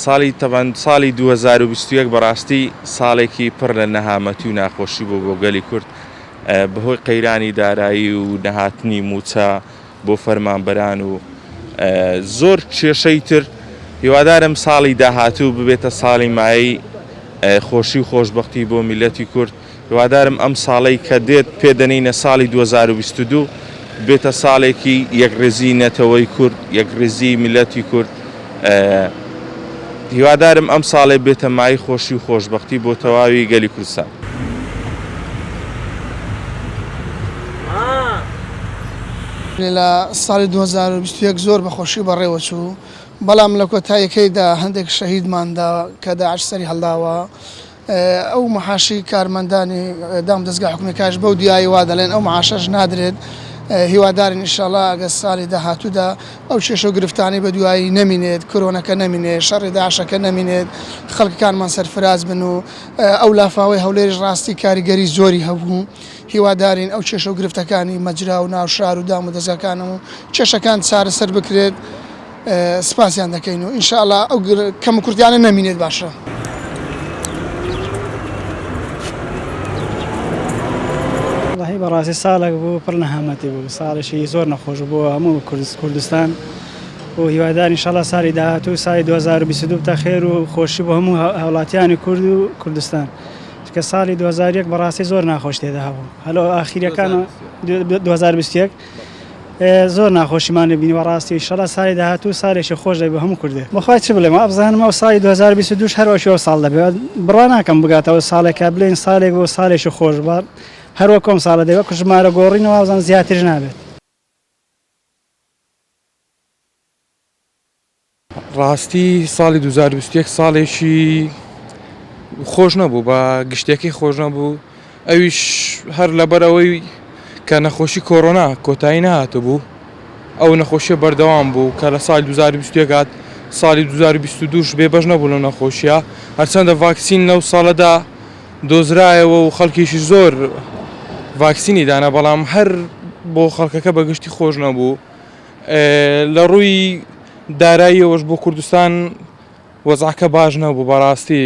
ساڵی تەبەن ساڵی دوو هەزار و بیست و یەک بەڕاستی ساڵێکی پڕ لە نەهامەتی و ناخۆشی بوو بۆ گەلی کورد بەهۆی قەیرانی دارایی و نەهاتنی مووچە، بۆ فەرمانبەران و زۆر کێشەی تر هیوادارم ساڵی داهاتوو ببێتە ساڵی مایەی خۆشی و خۆشببختی بۆ میلەتی کورد هیوادارم ئەم ساڵی کە دێت پێدەنینە ساڵی 2022 بێتە ساڵێکی یەکڕێزی نەتەوەی کورد یەکڕێزی میلەتی کورد هیوادارم ئەم ساڵێ بێتە مای خۆشی و خۆشبەختی بۆ تەواوی گەلی کوردستان. لە ساڵی دوو هەزار و بیست و یەک زۆر بە خۆشی بەڕێوە چوو، بەڵام لە کۆتاییەکەیدا هەندێک شەهیدمان دا کە داعش سەری هەڵداوە. ئەو معاشەی کارمەندانی دام دەزگا حکومیەکایش بەو دیایی وا دەڵێن ئەو معاشەش نادرێت هیوادارین ئیشەڵا ئەگە سالی داهاتوودا ئەو کێشە و گرفتانی بە دوایی نەمینێت کرۆنەکە نەمینێت شەڕی داعشەکە نەمینێت خەڵکەکانمان سەرفراز بن و ئەو لافاوەی هەولێریش ڕاستی کاریگەری زۆری هەبوو هیوادارین ئەو کێشە و گرفتەکانی مەجرا و ناوشار و دام و دەزگاکانەوە کێشەکان چارەسەر بکرێت. سپاسیان دەکەین و ئینشاڵا ئەو کەم و کورتیانە نەمینێت باشە. وەڵاهی بەڕاستی ساڵێک بوو پڕ نەهامەتی بوو ساڵێکی زۆر نەخۆش بوو هەموو کوردست کوردستان و هیوادار ئینشاڵا ساڵی داهاتوو ساڵی 2022 بتە خێر و خۆشی بۆ هەموو هاوڵاتیانی کورد و کوردستان چونکە ساڵی 2001 بەڕاستی زۆر ناخۆش تێدا هەبوو هەلۆ ئاخیریەکان 2021 زۆر ناخۆشیمان لێ بینیوە ڕاستی ئیشەڵا سالی داهاتوو سالێکی خۆش دەبێت بۆ هەموو کوردێک بەخوای چ بڵێم وابزانم ئەو سالی دوو هەزار و بیست و دوو هەر وەکی ئەو ساڵ دەبێت بڕوا ناکەم بگاتەوە ساڵێک کە بڵێین سالێک بۆ سالێکی خۆش بەڵام هەر وەکو ئەم ساڵە دەبێت وەک ژمارە گۆڕینە وابزانم زیاتریش نابێت. ڕاستی ساڵی دوو هەزار و بیست و یەک ساڵێکی خۆش نەبوو بە گشتەکەی خۆش نەبوو ئەویش هەر لەبەرەوەی کە نەخۆشی کۆرۆنا کۆتایی نەهاتبوو ئەو نەخۆشیە بەردەوام بوو کە لە ساڵی دوو هەزار و بیست و یەک هات ساڵی دوو هەزار و بیست و دوو بێ بەش نەبوو لەو نەخۆشیە هەرچەندە ڤاکسین لەو ساڵەدا دۆزرایەوە و خەڵکیشی زۆر ڤاکسینی دانا بەڵام هەر بۆ خەڵکەکە بە گشتی خۆش نەبوو لەڕووی داراییەوەش بۆ کوردستان وەزعەکە باش نەبوو بەڕاستی.